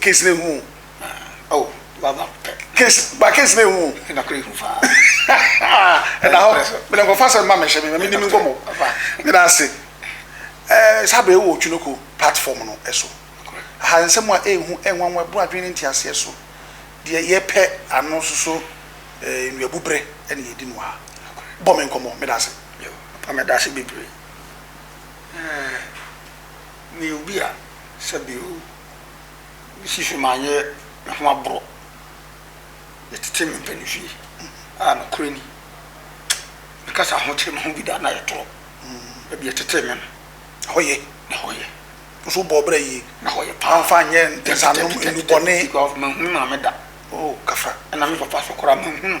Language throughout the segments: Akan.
case ne hu oh baba case ba case ne hu na kure hu fa na ho bele ko fa se ma me hye me me ni mi komo fa me na se eh sabe wo twunoko platform no eso ha nsem a ehu enwanwa bu adwen ne ntiase eso de ye pɛ ano soso eh nnuabu bere ne ye di no ha bɔ me nkomo me da se pa me da se bebre eh Meyɛ obi a sɛbe o, misi so manyɛ me ho aboro, yɛtete me mpanimfie a nokorɛ ni, mekasa ahokyere me ho bi da a na ayɛ torɔ, baabi yɛtetee me no, ɛhɔ yɛ, na ɛhɔ yɛ. Wo nso wobɔɔ bra yie. Na ɛhɔ yɛ paa. Mamfa nyɛ ntɛnsanom nnubɔne. Because manhu me maame da. Oh, kasa. Ɛna me papa nso koraa manhu no.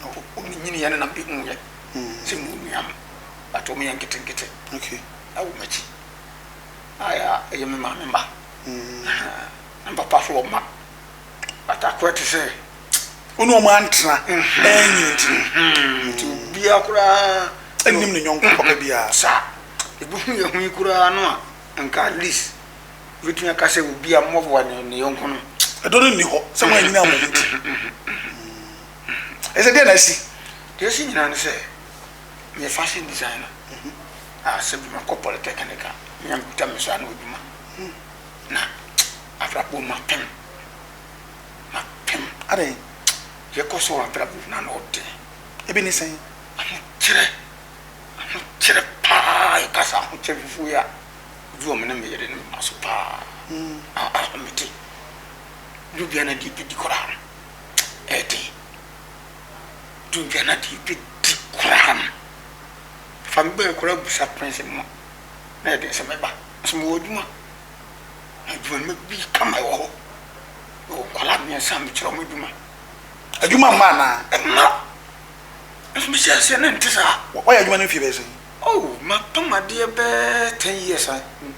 No wɔn nyini yɛ ne nam ehu yɛ sɛ mu nua no but wɔn yɛ nketenkete ɛwɔ m'akyi ayɛ a ɛyɛ me maame mma na me papa so wɔ mma but akɔ ɛte sɛ wɔn wɔn antena ɛnyi nti nti obiara koraa ɛnim ne nyɔnko papa biara saa ebi hu yɛ hu yi koraa no a nka at least wobɛtumi aka sɛ obi a mmɔboa ne yɔnko no ɛdɔ no nni hɔ sɛ mo anyina mo ho nti Ɛsɛ deɛ na asi? Deɛ asi nyinaa ne sɛ meyɛ fashion designer a sɛ bi makɔ polytechnic a menya mekuta me saa na adwuma na abrabɔ mapem mapem adɛn yɛkɔ so wɔ abrabɔ na na ɔde ebi ne sɛn ahokyerɛ ahokyerɛ paa yɛkasa ahokyerɛ fufuo yi a obi wɔ me ne meyere ne mma so paa a ahomete ne obiara na deɛ bɛdi koraa ɛde Duncan adeɛ bɛdi koraa no fa me bɛɛ koraa busa Prince no na ɛde sɛ mɛba nso mewɔ adwuma na adwuma no bi kama ɛwɔ hɔ mewɔ nkwadaa mmiɛnsa a mekyerɛ wɔn adwuma adwuma mma anaa ɛma nso mehyɛ aseɛ na nte saa wɔyɛ adwuma no mfie bɛɛ sɛn oh mapam adeɛ bɛɛ ten years a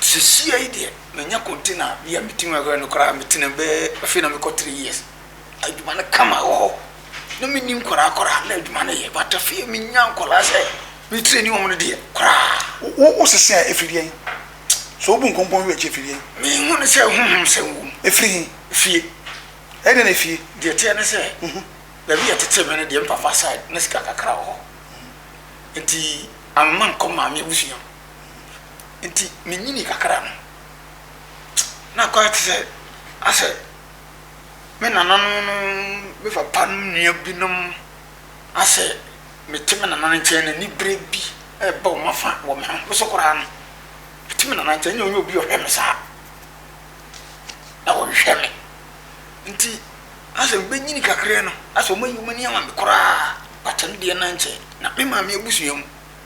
Sesia yi deɛ manya container a bia metumi ahwɛ no koraa metena bɛɛ afei na mekɔ three years adwuma no kama wɔ hɔ na menni nkwadaa koraa na adwuma no yɛ but afei menya nkwadaa sɛ me traini wɔn no deɛ koraa. Wo wo sisi a efiri yɛn so obu nkonkonwi wɔ akyi efiri yɛn. Me hu ne sɛ huhum sɛ ngu. Efiri hin. Fie. Ɛde na efie. Deɛ teɛ ne sɛ. Baabi yɛ tete me no deɛ mpafa side ne sika kakra wɔ hɔ nti amema nkɔ maame abusua mu. Ntsi minyinii kakra no, nna koraa tse dɛ asɛ me nananom no me papa no nua binom asɛ metse me nana ne nkyɛn no enyiberɛ bi reba hɔn afã wɔ me ho. Me so koraa no, metse me nana nkyɛn, nna ɔnnyɛ obi a ɔhwɛ me saa, na wɔhwehwɛ me. Ntsi asɛ mibenyin kakra no, asɛ wɔayi hɔn enyi ama me koraa, but no deɛ nna nnkyɛ. Na me maame ebusua mu.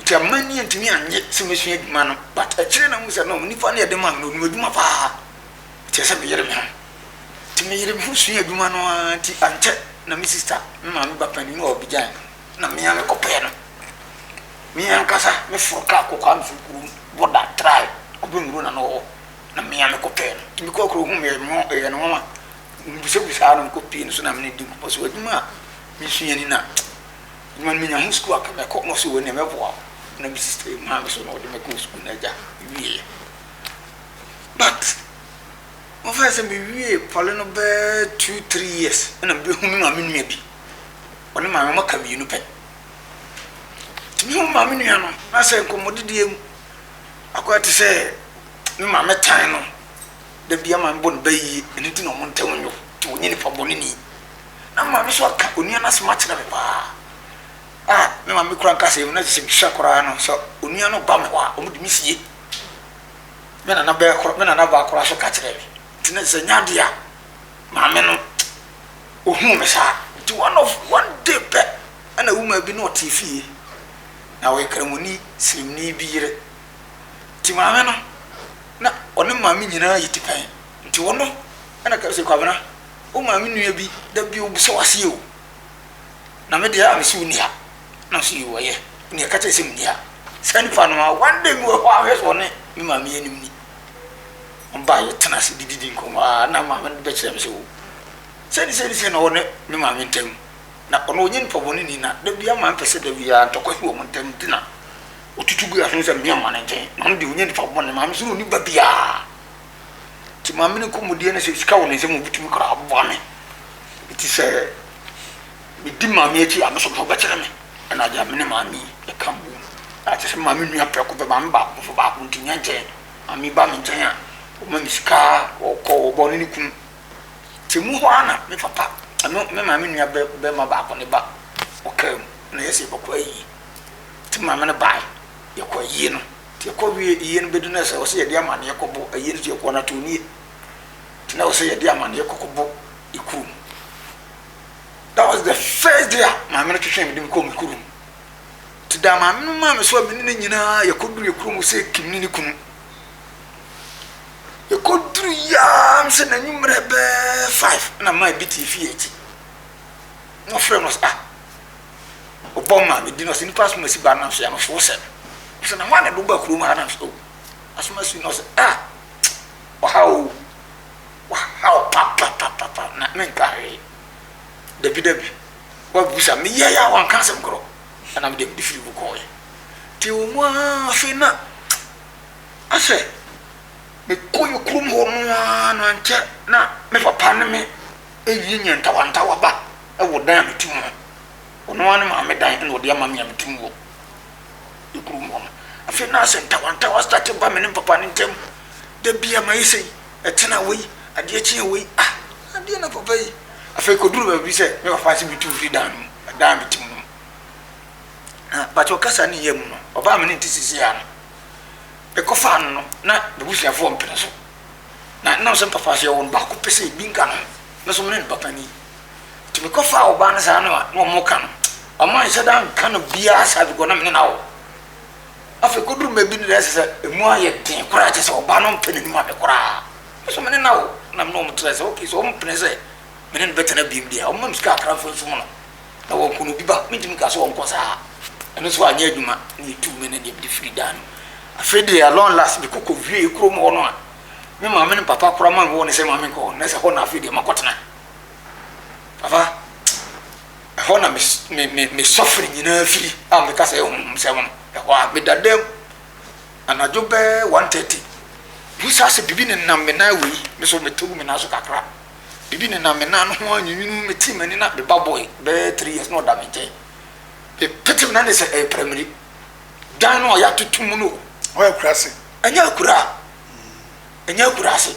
Nti amma ani antumi annye sɛ mɛsua adwuma no but akyire na mahu sɛ no nipa no a yɛde maa me no ɔnim adwuma paa nti ɛsɛ sɛ meyere me ho. Nti meyere me ho suaa adwuma no ara nti ankyɛ na me sista me maame ba panin no a ɔbɛgyae me no na me ara me kɔpɛɛ no. Me ankasa me foro kaa kɔ Kwame Firi kurom border trae Kube Nwuro na na ɔwɔ na me ara me kɔpɛɛ no. Nti me kɔɔ kuro ho meyɛ no yɛ no nwanwa mebusabusaa no mekɔ pie no so na me ne no di nkɔmmɔ so adwuma a mesua ni na Ɔma no menya ho sukuu a nka mɛkɔ, na ɔse wei neɛ mɛboa wo, na me sister yi maa me so na ɔde me kɔɔ sukuu na agya wieɛ. But mofɛɛ sɛ mewie pɔle no bɛɛ two three years na mebɛhu me maame nua bi, ɔne maame ɔma ka mmienu pɛ. Nti me ho me maame nua no na sɛ nkɔmmɔdidie mu, akɔyɛ te sɛ me maame tan no, da biara maame bɔ no bɛ yie, ɛno nti na wɔn ntam nyɛ wo, nti wonyɛ nipa bɔne ni. Na me maame nso aka onua no asɛm akyerɛ me paa. A me maame kura nka sɛ ɛmu na sɛ mehwɛ koraa no sɛ onua no ba me hɔ a, wɔn de me sie. Me nana bɛɛ kora, me nana baa koraa so ka kyerɛ me. Nti na sɛ nya adeɛ a, maame no, ohuu me saa. Nti one of one day pɛ, ɛna womaa bi na ɔte fie. Na ɔyɛ kramoni sirimni bi yere. Nti maame no, na ɔne maame nyinaa yɛ tipɛn. Nti ɔno ɛna ka sɛ Kwabena. Wo maame nua bi da bi ɔbisa wo aseɛ o na me deɛ a mese ɔnni ha na ɔse yoo ɔyɛ nea ɛka kyerɛ sɛ menni ha saa nipa no a one day mewɔ hɔ ahwɛ sɛ ɔne me maame yɛ anim ni ɔba yɛtena ase dididi nkɔmmɔ a na maame no bɛkyerɛ me sɛ o sɛni sɛni sɛ na ɔne me maame ntam na ɔno ɔnyɛ nipa bɔne ni na da biara maame pɛ sɛ da biara ntɔkwa si wɔn ntam nti na ɔtutu gu aso sɛ mmea ma ne nkyɛn na ɔno deɛ ɔnyɛ nipa bɔne maame so na ɔni ba biara Nti maame no kɔn mu deɛ no sɛ sika wɔ ne nsam ɔbɛtumi koraa aboa me. Nti sɛ medi maame akyi a me nso ɔbɛkyerɛ me. Ɛna agya me ne maame ɛka bom. Na kyerɛ sɛ me maame nua prɛko pɛ maame baako nso baako nti nyɛ nkyɛn. Maame ba me nkyɛn a ɔma me sika ɔkɔ ɔba ɔne ne kunu. Nti mu hɔ ara na me papa ɛno me maame nua bɛma baako ne ba ɔkaa mu na yɛsɛ yɛbɛkɔ ayie. Nti me maame no baeɛ yɛkɔ ayie no. Nti ɛkɔ wie yie no bɛdu no sɛ ɔsɛ yɛde amaneɛ kɔbɔ ayie no so yɛkɔ no atoo nie nti na ɔsɛ yɛde amaneɛ kɔkɔbɔ ekuro mu that was the first day a maame no twetwee me de me kɔɔ me kuro mu nti da maame no maa me so a me ne ne nyinaa yɛkɔduru yɛ kuro mu sɛ kim ne ne kunu yɛkɔduru yaa sɛ n'anwummerɛ bɛɛ five na maa bi te fie akyi na ɔfrɛ no sɛ ah Ɔbɔ maa medi na ɔsɛ nnipa asom asi ba nam so yɛ no so wosɛ no. Ɔsɛ na hwan na ɛde woba kurom ha nam so oh asom asi na ɔsɛ ah ɔhaw o wahaw papapapapa na menka hwee. Dabi dabi wabusa meyɛ yɛ a wanka asɛm korɔ ɛna mede mede firi mu kɔɔyɛ. Nti wɔ mu ara afei na asɛ mekɔ yɛ kurom hɔ no ara no ankyɛ na me papa ne me ɛwie nyɛ ntawantawaba wɔ dan a metu mu hɔ. Ɔno ara ne maame dan na ɔde ama me a metu mu wɔ ne kurom hɔ no. Afei na asɛ ntawantawa starte ba me ne me papa no ntam. Da biara mayi sei, ɛtena wei, adeɛ kyeɛ wei. Ah, adeɛ na papa yi. Afei ɛkɔduru baabi sɛ me papa nso bɛtu mfiri dan no mu, dan a metu mu no mu. Na mpakyɛw kasa ne yam no, ɔbaa a me ne no te seesei ara no, mekɔfaa no no, na m'abusuafoɔ mpene so. Na ɛnam sɛ me papa nso yɛwɔ no baako pɛ sɛ ebi nka no ho, me nso me ne no papa ni. Nti mekɔ faa ɔbaa no saa na ɔmo ka no ɔmo anhyɛ da nka no biaa saa bikɔ na mene no awo afei koduru baabi no ɛsɛ sɛ emu ayɛ den koraa kyɛ sɛ ɔbaa no mpɛ n'anim ame koraa nso mene no awo na mene ɔmo kyerɛ sɛ ok so ɔmo pene sɛ mene no bɛtena biem deɛ ɔmo mam sika akra mfa nsu mu no na wɔnkɔ no obi ba mentumi ka sɛ wɔnkɔ saa ɛno nso anyɛ adwuma na etu me ne deɛ mede firi dan no afei deɛ along last mekɔ kɔ wie kurom hɔ no a me maame ne papa koraa ma me wɔ ne sɛ maame nkɔ hɔ na sɛ hɔ na afei deɛ makɔtena Papa, ɛhɔ na me me me me sɔfiri nyinaa firi a meka sɛ ɛhom sɛ hom ɛhɔ a meda dam anadwo bɛɛ one thirty bisa sɛ biribi nenam me nan wei me so mete wo me nan so kakra biribi nenam me nan no ho anwinwini me ti m'ani na me ba boy bɛɛ three years na ɔda me nkyɛn mepete me nan ne sɛ ɛyɛ pramiri dan no a yɛatoto mu no ɔyɛ akurase ɛnyɛ akura ɛnyɛ akurase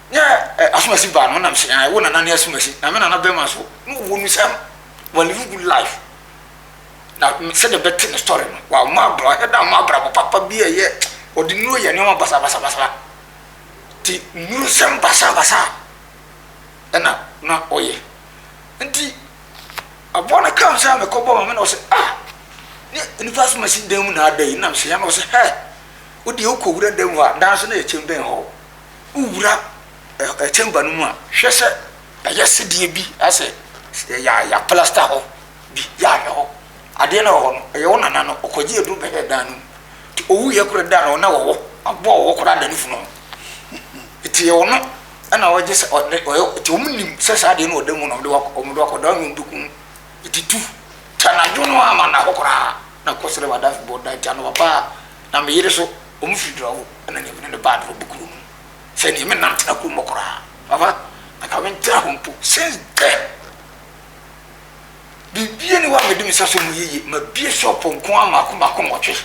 Ne asomasi baa no ɔnam sɛ ɛɛ wo nana ne asomasi na me nana bɛrima nso na ɔwɔ mu sɛ wa live good life na sɛdeɛ bɛte ne story no wa ma abra ɛda ma abrabɔ papa bi a ɛyɛ ɔde nuro yɛ nneɛma basabasabasa ti nuro sɛm basabasa ɛna na ɔyɛ nti aboa no kam sɛ mekɔ bɔ ma me na ɔsɛ ah ne nipa asomasi dan mu na ada yi nam sɛ yɛn na ɔsɛ hɛ wodeɛ wokɔ wura dan mu a danso na yɛkyɛm bɛn hɔ wowura ɛkyɛngua no mu a, hwɛ sɛ ɛyɛ sedeɛ bi asɛ yɛ plasta hɔ bi yɛ ahwɛ hɔ adeɛ no wɔ hɔ no ɛyɛ wo nana no ɔkɔgye aduru bɛhɛ dan no mu nti ɔwu yɛ kora da no na wɔwɔ aboa wɔwɔ kora da no funu ho nti yɛ ɔno ɛna ɔgye sɛ ɔde ɔyɛ nti wɔn nim sɛ saa adeɛ no ɔda mu na ɔde wɔn de akɔda wɔn de kun nti tu tanadwo no ama na hɔ koraa na kɔsrɛ wadafi bɔ da nti anɔpa paa na meyere so Wɔn firi dura o ɛna nea mene no baa dura bu kuro nom sɛ nea me nna ntena kuro mɔ koraa papa anka me ntra hɔ mpo since then biribi ani wa mede me sa so mu yeye ma bie shop nko a mako mako nwɔtwe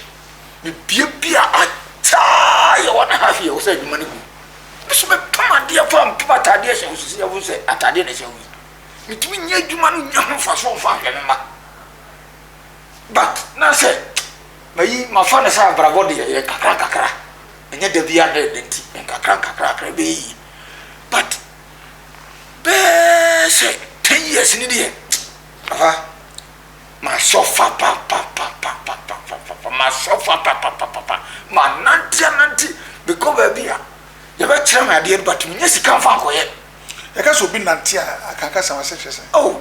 me bie bia ataa yɛ wɔn aha fi yɛ wɔ sɛ adwuma no gu me so me pam adeɛ fa mpam ataadeɛ hyɛ wo sisi yɛwo sɛ ataadeɛ na ɛhyɛ wo yi metumi nyɛ adwuma no nyɛ ho mfa so mfa hwɛ me ma but na sɛ mayi mafa no sɛ abrabɔ deɛ yɛ nkakra nkakra ɛnyɛ da bi adɛ da nti nkakra nkakra akra ɛbɛyɛ yie but bɛɛ sɛ ten years ni deɛ papa ma sɔfa papapapapapapa ma sɔfa papapapapa ma nante anante mekɔ baabi a yɛbɛkyerɛ me adeɛ no but menyɛ sika mfa nkɔyɛ ɛka sɛ obi nante a akankasa wɔ sɛ hwɛ sɛ oh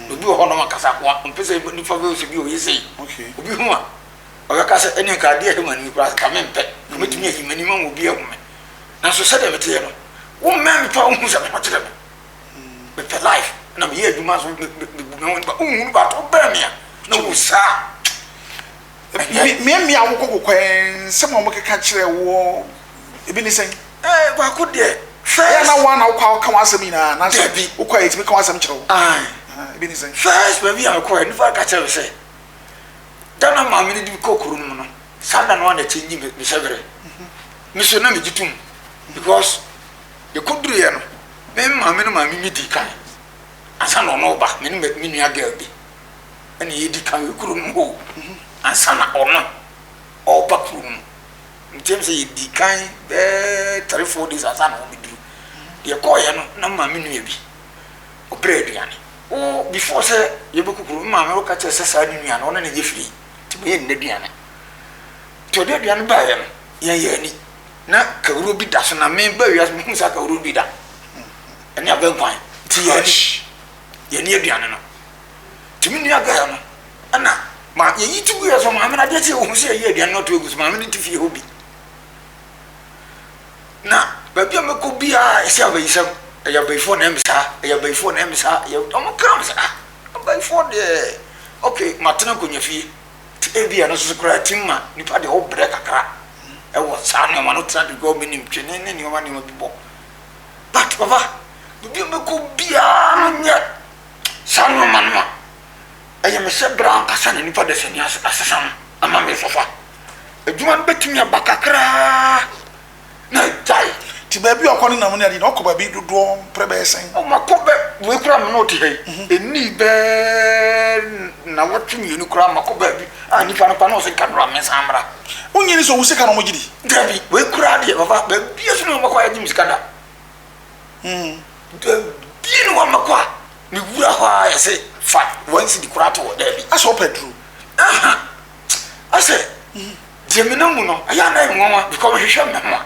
na obi wɔ hɔ a ɔno wankasa ako a, ɔmpɛ sɛ nnipa bɛhu sɛ bi ɔyɛ sei. Obi hu a, ɔbɛka sɛ, ɛnneɛ nka adeɛ a ɛhe m'anim yi koraa, nka mempɛ, nka mɛtumi ayi m'anim ama obi ahu me. Nanso sɛdeɛ meteɛ no, wommɛn me paa wonhu sɛ me ho kyere me. Mepɛ life na meyɛ adwuma nso mebu me ho nipa. Wonhunu but wobɛn me a na wosaa. Mmeammea a wɔkɔ kokoa nsɛm a wɔkeka kyerɛ wo ebi ne sɛn? Ɛɛ baako deɛ first. Ɛyɛ na wɔn na wokɔ aka wɔn asɛm nyinaa na sɛ bi wokɔ a yɛtumi ka wɔn asɛm kyerɛ wo. Ae. Ebi ne sɛn? First baabi a wokɔ nipa ka kyerɛ me sɛ da na maame no de me kɔ kuro no mu no saa da no a na ɛkyɛ nyi me hyɛ berɛ. Me so na megye tom because yɛkɔduruiɛ no me maame no maame me di kan ansa na ɔno reba me ne me nua girl bi. na yɛdi kan wɔ kuro no mu o ansa na ɔno ɔreba kuro no mu nkyɛn sɛ yɛdi kan bɛɛ three four days ansa na ɔbɛduru deɛ kɔɔyɛ no na maame nua bi ɔbrɛ aduane o before sɛ yɛbɛkɔ kuro no maame ɔka kyerɛ sɛ saa ne nua no ɔne ne yɛ firi nti meyɛ nna aduane nti ɔde aduane baeɛ no yɛn yɛ ani na kawuro bi da so na meba wiase mehu saa kawuro bi da ɛne abɛnkwan nti yɛ ani yɛnoa aduane no nti me nua gɛɛ no ɛna ma yɛyi ti guiɛ so maame no adeɛ sɛ ɔhu sɛ yɛyi aduane no ato agu so maame no te fie hɔ bi na baabi a mɛkɔ biara ɛsɛ abayisɛm ɛyɛ abayifoɔ na ɛmi saa ɛyɛ abayifoɔ na ɛmi saa ɛyɛ ɔmo kra mo sɛ ah abayifoɔ deɛ ok matena akonnwa fie ti ebi ɛno soso koraa ti ma nipa deɛ ɔbrɛ kakra ɛwɔ saa nneɛma no tena de gɔɔ mi nim twene ne nneɛma nneɛma bi bɔ. but papa baabi a ɔbɛkɔ biara no nyɛ saa nnoɔma no a ɛyɛ me sɛ berɛ ankasa na nipa dasani asesa no ama me fafa adwuma no bɛtumi aba kakraa na agyae nti baabi a ɔkɔ no nam ne adeɛ na ɔkɔ baabi dodoɔ mprɛ bɛyɛ sɛn ɔmakɔ bɛ wei koraa me ne ɔte ha yi ɛni bɛɛ na wɔtwe mmienu koraa makɔ baabi a nipa no pa na ɔse kadora mensan mmra Wonye ne sɛ owu sika na wɔgye di? Dabi, wei koraa deɛ papa, baabi so ne wɔn bɛkɔ ayɛgye me sika da. Hmm. Dabi ne wɔn bɛkɔ a, ne wura hɔ a yɛse fa wɔn si di koraa to hɔ dabi. Asɛ ɔpɛ duro. Aha, asɛ deɛ menam mu no, ɛyɛ anan nwanwa bikɔ mehwehwɛ me ho a.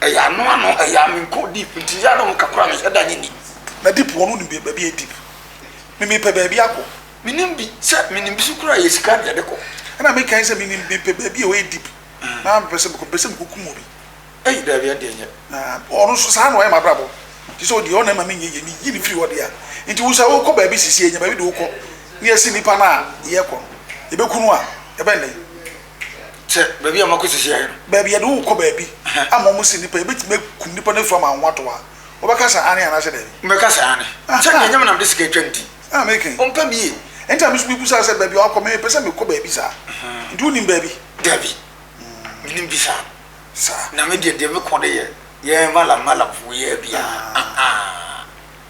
Ɛyɛ ano ano, ɛyɛ a menkɔ deep nti yɛ a na wɔka koraa menhyɛ da nye nni. Na deep wɔn nim baabi a ɛyɛ deep. Me mepɛ baabi akɔ. Menim bi sɛ menim bi so koraa ɛyɛ sika na yɛde kɔ. Ɛna meka yi sɛ menim mepɛ baabi a ɔyɛ deep na mepɛ sɛ mekɔ mepɛ sɛ mekɔkum obi. Ei daabi ɛnde ɛnyɛ. Na ɔno nso saa na ɔyɛ m'abrabɔ nti sɛ ɔdeɛ ɔno ɛma menyɛ yie meyi no firi hɔ deɛ a nti wo nso wokɔ baabi sesie nya baabi de wokɔ na yɛse nnipa no a yɛkɔ no yɛbɛku no a ɛbɛn dɛn. sɛ baabi a wɔakɔ sisi ayɛ no. Baabi a yɛde wo rekɔ baabi ama wɔasi nnipa, yɛbɛtumi akum nnipa no afiri hɔ ama wo ho atɔ wo a, wobɛka sɛ aane anaasɛ daabi? Mɛka sɛ aane. Sɛ deɛ ɛnyɛ me na mede sika atwa ne ti. Na meke. Ɔmpɛ me yie. Enti na me nso mebisaa sɛ, Baabi a wakɔ, mepɛ sɛ mekɔ baabi saa. Enti wonim baabi? Dabi, mennim bi saa. Saa. Na me deɛ, deɛ mekɔ no yɛ yɛn malam malamfoɔ yi ara bi ara.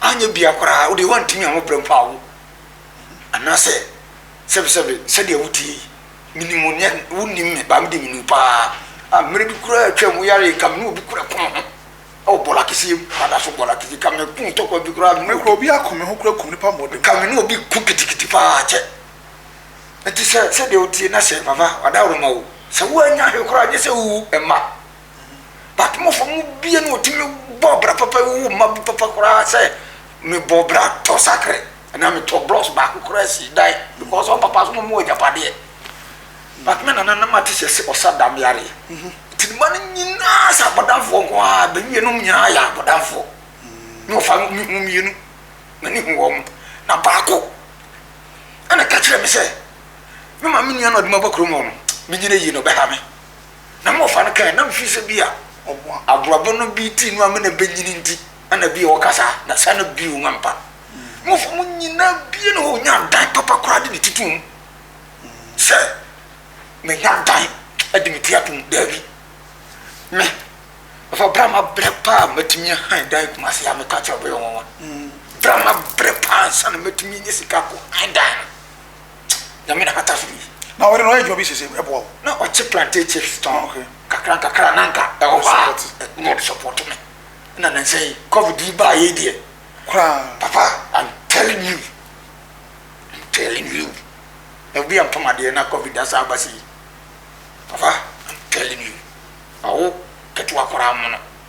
anyɛ biaa koraa wodeɛ woantumi anwo berɛ mpo awo anaasɛ sɛbesɛbe sɛdeɛ woteɛ yi menim wo neɛ wonim me baa mede menu paa a mmerɛ bi koraa atwam woyare nka mene obi kora ko ho ɛwɔ bɔla keseɛ mu mada so bɔla keseɛ ka me ko tɔkwa bi koraa mmerɛ kora obi ako me ho kora kum nipa mmɔde ka mene obi ko kitikiti paa kyɛ ɛti sɛ sɛdeɛ woteɛ na sɛ vava wada woroma wo sɛ woanya he koraa nyɛ sɛ wowu ɛma Batomafo mu bia na ɔtumi bɔɔ bra papa yi wowɔ mma bi papa koraa sɛ mebɔ bra tɔ sakre anaa metɔ blocks baako koraa si dan because ɔn papa so na ɔmo wɔ agyapadeɛ but me nana na mate sɛ sɛ ɔsa dam yareɛ mhm. nti ne ma no nyinaa sɛ abɔdamfoɔ nko a bɛwie nom nyinaa yɛ abɔdamfoɔ ne mhm. ɔfa mehu mmienu na ne hu wɔ mo na baako ɛna ka kyerɛ me sɛ me ma me nua na ɔde ma ba kurom hɔ no menyina yie na ɔbɛha me Na mmɔfra no kae, na mefiri sɛ ebia aborɔbo no bi ti no amena bɛnyini nti, ɛna ebia ɔka saa, na saa na bio no ampa. Mmɔfra mu nyinaa bie na ɔnya dan papa koraa de ne ti to mu sɛ menya dan de me ti atom. Daabi. Me, ɛfa berɛ a mabrɛ paa matumi ahan dan Kumase a meka kyerɛ bɛyɛ nwanwa. Berɛ a mabrɛ paa ansa na matumi anya sika akɔ han dan no. Nyame na bata so yi na ɔyere no ɔyɛ adwuma bi sese ɛboa wo. Na ɔkye plantain chips tɔn kakra nkakra na nka ɛwɔ hɔ a na ɔde support me na nansa yi covid yi baa yei deɛ koraa papa I'm telling you I'm telling you na obi antɔ ma deɛ na covid asan aba sei papa I'm telling you ma wo ketewa koraa mono.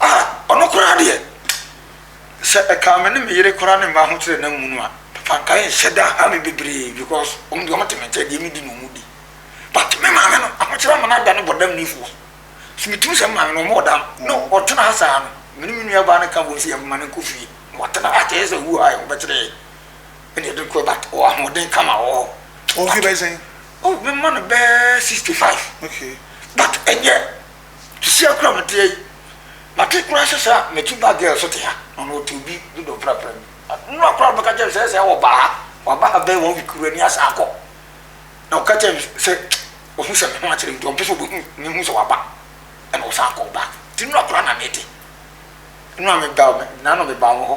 Ah, ɔno koraa deɛ, sɛ ɛkaa me ne me yere koraa ne mma ho kyerɛ na mmu no a, papa nka ɛnhyɛ da ha me bebree because wɔn deɛ wɔn te me nkyɛn deɛ medi na wɔn di. But me maame no, ahokyerɛ ama no ada no bɔdam ni foɔ. So metumi sɛ me maame no wɔn ɔda no, no ɔtena ha saa no, me ne me nua baa no ka bom sɛ yɛn mma no nkɔ fie na wɔatena ha kyɛ sɛ wu a yɛn ho bɛkyerɛ yɛn. Ɛna yɛde no kɔ but ɔwɔ ahoɔden kama wɔ hɔ. Wɔn fi bɛyɛ sɛn? Oh, me mma no bɛɛ 65. Okay. But ɛnyɛ Kisi akura matea yi mate kura sɛ saa mɛti ba girl so te ha ɔno ɔte obi dodo prapra mu nura kura bɛka kyɛ sɛ sɛ wɔ baa waba ha bɛyɛ wɔn week kura ni asa akɔ na ɔka kyɛ sɛ ɔhu sɛ me ho akyerɛ nti ɔmpɛ sɛ ɔbɛhu ne hu sɛ waba ɛna ɔsan kɔ ba ti nura kura na mete nura meba na no meba wɔ hɔ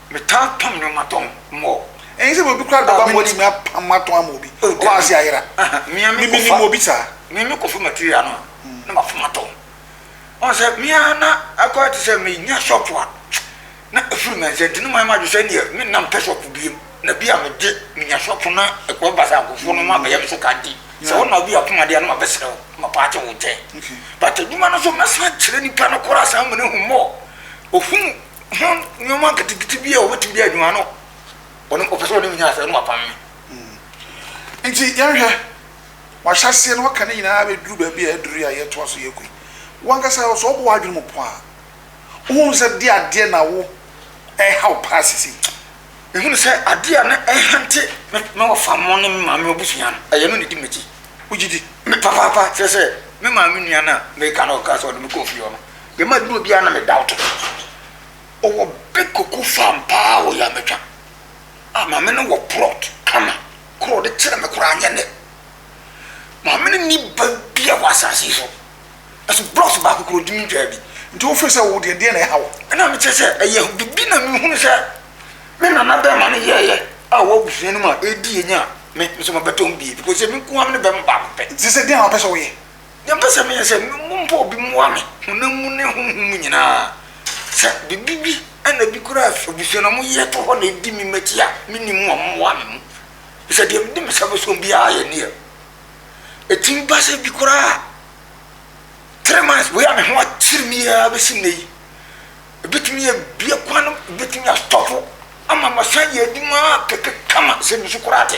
Metaa pam nneɛma tɔn. Mɔ. Ɛnyɛ sɛ obi koraa bɛba a watumi apam atɔn ama obi. Ɔkɔ ase ayera. Menim obi saa. Me mekɔfa material no na mafam atɔn. Ɔhu sɛ me ara na akɔyɛ te sɛ menya shop a na afiri me nsa nti na mayɛ m'adwene sɛ ɛnneɛ me nna mpɛ shop biom. Na bi a mede menya shop na ɛkɔ ba sɛ akofoɔ no ma bɛyɛ me so ka nti sɛ wo na obi apam adeɛ a na mabɛsrɛ wo na mapaakye wo nkyɛn. But adwuma no nso mɛsan akyerɛ nipa no koraa san ama no ahu more. Ɔhunu. ho nneɛma nketenkete bi a wɔbɛtumi de adwuma no ɔno ɔpɛ sɛ ɔne me nyɛ asɛ no wapam me nti yɛnhwɛ wahyɛ aseɛ no waka ne nyinaa bɛduru baabi a aduru a yɛtoa so yɛkɔ yi wankasa sɛ ɔbɔ w'adwene mu po a wohunu sɛ de adeɛ na wo ɛha wo paa sisi mehunu sɛ adeɛ a na ɛhante me wɔfa mo ne me maame abusua no ɛyɛ no ne di m'akyi wogye di me papaapa kyerɛ sɛ me maame nua no a meka no ɔka sɛ ɔde me kɔɔ fie ɔno Dɛm aduro biara na me doubt no. Ɔwɔ big cocoa farm paa wɔ Yametwa. A maame no wɔ plot kama. Koro ɔde kyerɛ me koraa nyɛ ne. Maame no ni ba bia wɔ asase yi so. Ɛso blocks baako koro ɔntumi ntwaa bi. Nti wo feel sɛ wo deɛ deɛ na ɛha wo. Ɛna me kyerɛ sɛ ɛyɛ bibi na me hunu sɛ me nana bɛma no yɛɛyɛ a ɔwɔ abusua no mu a ɛdi yɛ nya a me nso mabɛtɔ ho bie because ɛmi nkoaa me ne bɛma baako pɛ. Nti sɛ deɛn na wopɛ sɛ wo yɛ? Deɛ mpɛ sɛ meyɛ sɛ mompɛ obi mmoa me honam mu ne honhom mu nyinaa. Sɛ biribi bi ɛna bi kura abusua na wɔn yɛ to hɔ na edi me m'akyi a menni mu a mmoa me mu. Sɛ deɛ mede me sa bɛsom biara yɛ neɛ. Ɛtumi ba sɛ bi koraa a three months wei a me ho akyere me yɛ bɛsi nnɛ yi ɛbɛtumi yɛ bia kwan no ɛbɛtumi astɔpo ama masan yɛ adwuma kɛkɛ kama sɛ mesu koraa te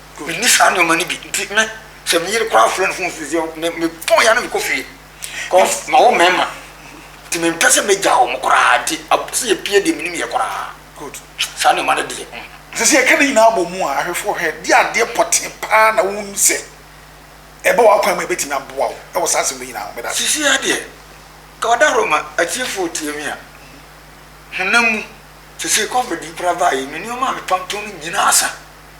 Menni saa nneɛma no bi. Nti me, sɛ me yere koraa frɛ no fon sisi a, me, mepɔn ya na mekɔ fie. Cause mawo mmarima. Nti mempɛ sɛ mɛgya wɔn koraa. Nti ab, sɛ yɛpie deɛ, menim yɛ koraa. Good. Saa nneɛma no deɛ, mm. Nti sɛ yɛka ne nyinaa bɔ mu a, ahwɛfoɔ hwɛ, deɛ adeɛ pɔtee pa ara na wonim sɛ ɛba w'akwan mu a ɛbɛtumi aboa wo wɔ saa asɛm no nyinaa ho? Medase. Sisi ara deɛ, nka wadahoro ma atiefoɔ retie me a, honam mu, seesei Covid yi koraa baeɛ yi, me nneɛma a metɔntɔn no nyinaa asa.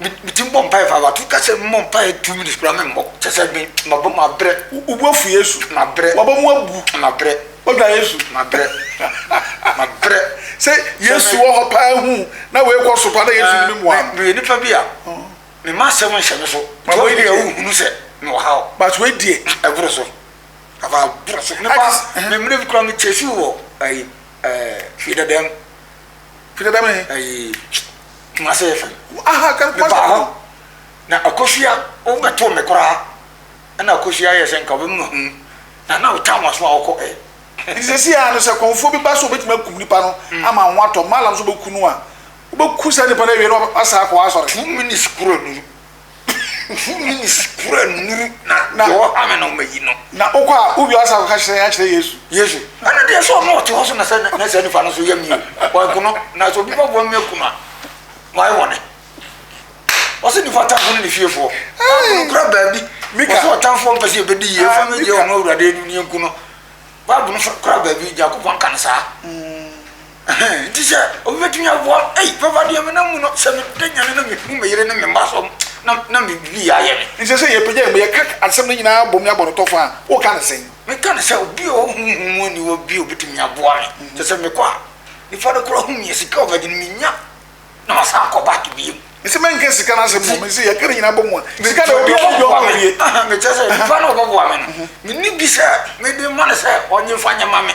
me me ti mbɔ mpae fa wato kasa mu mbɔ mpae two minutes kura me mbɔ kyɛ sɛ me ma bɔ ma brɛ wo bu afu yesu ma brɛ wabɔ mu abu ma brɛ wadwa yesu ma brɛ ma brɛ sɛ yesu wɔ hɔ paa hu na wei kɔ so paa na yesu ne me mua me yɛ nipa bi a me ma asɛm nhyɛ me so ma wei deɛ wo hunu sɛ me wɔ ha o but wei deɛ ɛboro so afa aboro so ne ba me mmerɛ bi kura me kyɛ si wɔ ɛyi ɛɛ fie dɛdɛm Firi bɛ me. Ayi kuma se yɛ fɛn. Aha kan kuma se. Meba hɔ na akosua o bɛ to me koraa ɛna akosua yɛ sɛ nka ɔbɛ mu ho na na ɔtan waso a ɔkɔ ɛ. Nti sɛsi a no sɛ kɔnfuo bi ba so ɔbɛtumi akum nipa no ama ho atɔ malam so bɛku no a ɔbɛku saa nipa no awie na wasan akɔ asɔre. Two minutes kura no. Mfuw no mu sikura nnuru na deɛ ɔha me no mayi no. Na wokɔ a, wo wiase akɔka kyerɛ yɛn akyerɛ Yesu. Yesu. Ɛno deɛ sɛ ɔno a ɔte hɔ so na sɛ na saa nipa no nso yɛ me o, wanku no, na sɛ obi bɛboa me aku no a, mayɛ bɔne. Ɔse nipa atamfo ne ne fiefoɔ. Bible no kora baabi. Mika. Ɔse ɔtamfoɔ mpɛ sɛ yɛbɛdi yie, ɛfa no gye ɔno awurade anim ne yɛnku no. Bible no kora baabi, Nyankopɔn ka no saa. Mm. Ɛhɛn, ntsi sɛ obi betumi aboa me, ei, Papa, deɛ menam mu no, sɛ meda nyan na mehu me yere ne me mma so na na biribi ayɛ me. Ntsi sɛ yɛpagya yɛn bo, yɛka asɛm no nyina abom ne abɔnotɔfo a, woka no sɛn? Meka no sɛ, obi a ɔwɔ honhom mu aniwa bi a obetumi aboa me, kyerɛ sɛ mekɔ a, nyimpa no koraa hu me a, sika a ɔbɛgye no, minnya na masan akɔ back bio. Ntsi mennka sika no asɛm mbom, ntsi yɛka ne nyina abɔ mu a, sika deɛ, obiara nngye ɔma owie. Ɛhɛn, mekyerɛ sɛ, nyimpa no a ɔbɔboa me no, menni bi sɛ mede ma no sɛ ɔnye mfa nyɛ ma me.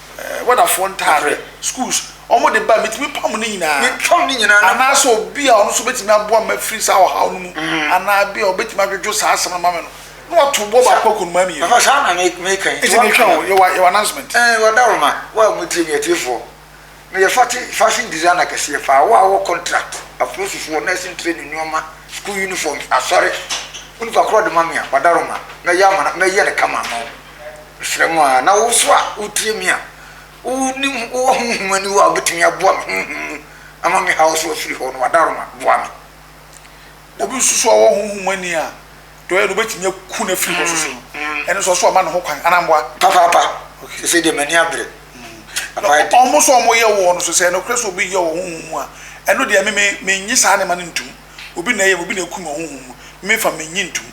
Wadafoɔ ntadeɛ, schools, wɔn de ba, metumi pam ne nyinaa. Metwam ne nyinaa. Anaa sɛ obi a ɔno nso bɛtumi aboa me afiri saa ɔhaw no mu, anaa ebi a ɔbɛtumi adwodwo saa asɛm no ama me no, na wato boɔ baako akɔ nnomaa mmienu. Papa, saa na me, me kan. Nti mehwɛ wo, yɛwɔ, yɛwɔ announcement. Ɛɛ, wada wo ma, wo a motie me, atiefoɔ. Meyɛ fate, fashion designer kɛseɛ paa, wo a wowɔ contract, apolisifoɔ, nursing training nnoɔma, school uniforms, asɔre, wo nipa korɔ de ma me a, wada wo ma, mɛyɛ ama no, mɛyɛ no kama ama wo. Mesrɛ mo ara, na wo nso a wotie me a wonim, wowɔ honhom aniwa a wobɛtumi aboa me honhom mu ama me haw so afiri hɔ no, Adaroma, boa me. Na obi nso so a ɔwɔ honhom ani a deɛ ɔyɛ no wobɛtumi aku no afiri hɔ so so no, ɛno nso ɔsoro ama no ho kwan, anaa mboa? Papaapa, seesei deɛ m'ani abere. Papa yɛ den. Wɔn nso a wɔyɛ wɔn no so, sɛ nokorɛ sɛ obi yɛ wɔ honhom mu a, ɛno deɛ me, me, mennye saa nneɛma no ntom. Obi na ɛyɛ me, obi na akum me wɔ honhom mu, me memfa, mennye ntom.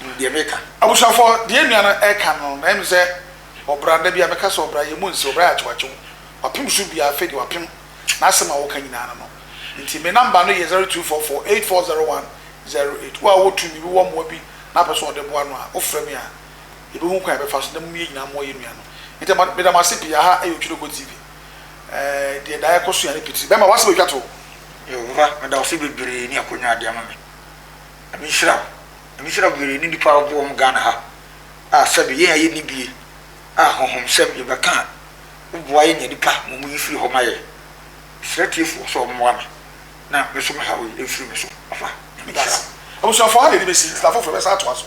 nim deɛ meka. Abusuafoɔ, deɛ nua no reka no, na ɛne sɛ ɔbra, da bi a meka sɛ ɔbra, yɛn mu nse, ɔbra yɛ akyewakyew, wapem so biara, afei deɛ wapem, n'asɛm a ɔka nyinaa ne no. Nti me number no yɛ zero two four four eight four zero one zero eight, wo a wowɔ tumi bi, wowɔ mmoa bi na wopɛ sɛ wɔde boa no a, wofrɛ me a, yɛbɛhu kwan a yɛbɛfa so na mom yɛn nyinaa mmoa yɛn nua no. Nti ɛma, meda mo ase pii, aha yɛ Otwedeguo TV, ɛɛ deɛ daa yɛkɔ sua ne pitiri. Bɛɛma, w'asɛm atwa toɔ. Yɛwura, meda wo ase bebree ne akwanya a wode ama me. Nyame nhyira wo. Misira mu yere ne nnipa a wɔbɔ wɔn Ghana ha a sɛbe yɛn a yɛnni bie a honhomsɛm yɛbɛka a woboa yɛn nya nnipa ma wɔyi firi hɔ ma yɛn. Mesrɛ tiefoɔ sɛ wɔmmoa me na me nso me haw yi mfiri me so papa. Nyame nhyira wo. Abusuafoɔ ha na yɛde bɛsi na afoforɔ bɛsan atoa so.